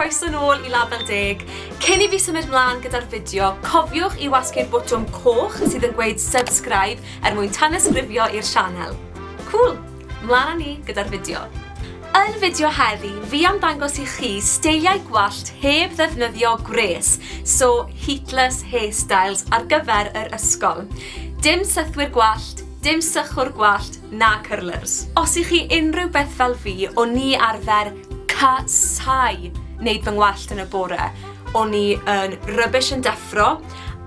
croeso nôl i Label Deg. Cyn i fi symud mlaen gyda'r fideo, cofiwch i wasgu'r botwm coch sydd yn gweud subscribe er mwyn tanysgrifio i'r sianel. Cool! Mlaen â ni gyda'r fideo. Yn fideo heddi, fi am ddangos i chi steiliau gwallt heb ddefnyddio gwres, so heatless hairstyles ar gyfer yr ysgol. Dim sythwyr gwallt, dim sychwr gwallt, na cyrlyrrs. Os i chi unrhyw beth fel fi, o ni arfer ca-sau neud fy ngwallt yn y bore. O ni yn rubbish yn deffro,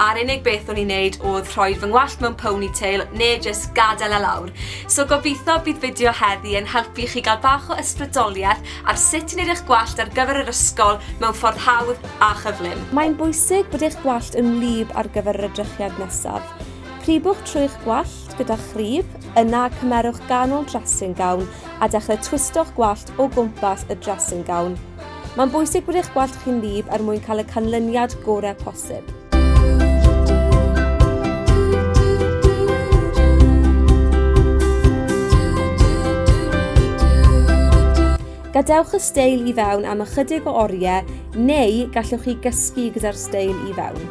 a'r unig beth o'n i'n neud oedd rhoi fy ngwallt mewn ponytail neu jyst gadael e lawr. So gobeithio bydd fideo heddi yn helpu chi gael bach o ysbrydoliaeth ar sut i wneud eich gwallt ar gyfer yr ysgol mewn ffordd hawdd a chyflym. Mae'n bwysig bod eich gwallt yn wlyb ar gyfer yr edrychiad nesaf. Cribwch trwy'ch gwallt gyda chrib, yna cymerwch ganol dressing gown a dechrau twisto'ch gwallt o gwmpas y dressing gown. Mae'n bwysig bod eich gwallt chi'n wlyb er mwyn cael y canlyniad gorau posib. Gadewch y steil i fewn am ychydig o oriau neu gallwch chi gysgu gyda'r steil i fewn.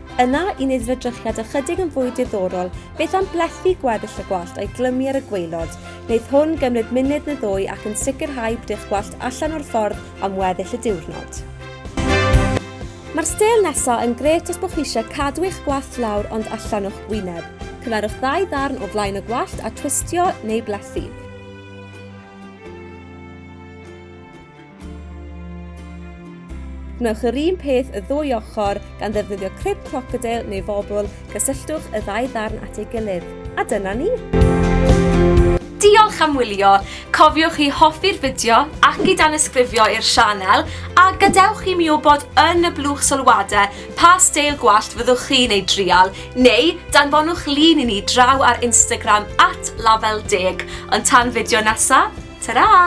Yna, i wneud yr edrychiad ychydig yn fwy diddorol, beth am blethu gweddill y gwallt a'i glymu ar y gwaelod? Wneith hwn gymryd munud neu ddwy ac yn sicrhau bod eich gwallt allan o'r ffordd am weddill y diwrnod. Mae'r stêl nesaf yn gret os bod chi eisiau cadw eich gwallt lawr ond allan o'ch wyneb. Cymerwch ddau ddarn o flaen y gwallt a twistio neu blethu. Gwnewch yr un peth y ddwy ochr gan ddefnyddio crib crocodeil neu fobl, cysylltwch y ddau ddarn at ei gilydd. A dyna ni! Diolch am wylio! Cofiwch i hoffi'r fideo ac i danysgrifio i'r sianel, a gadewch i mi wybod yn y blwch sylwadau pa steil gwallt fyddwch chi'n ei drial, neu danfonwch lun i ni draw ar Instagram at lafelldeg. Ond tan fideo nesa, tara!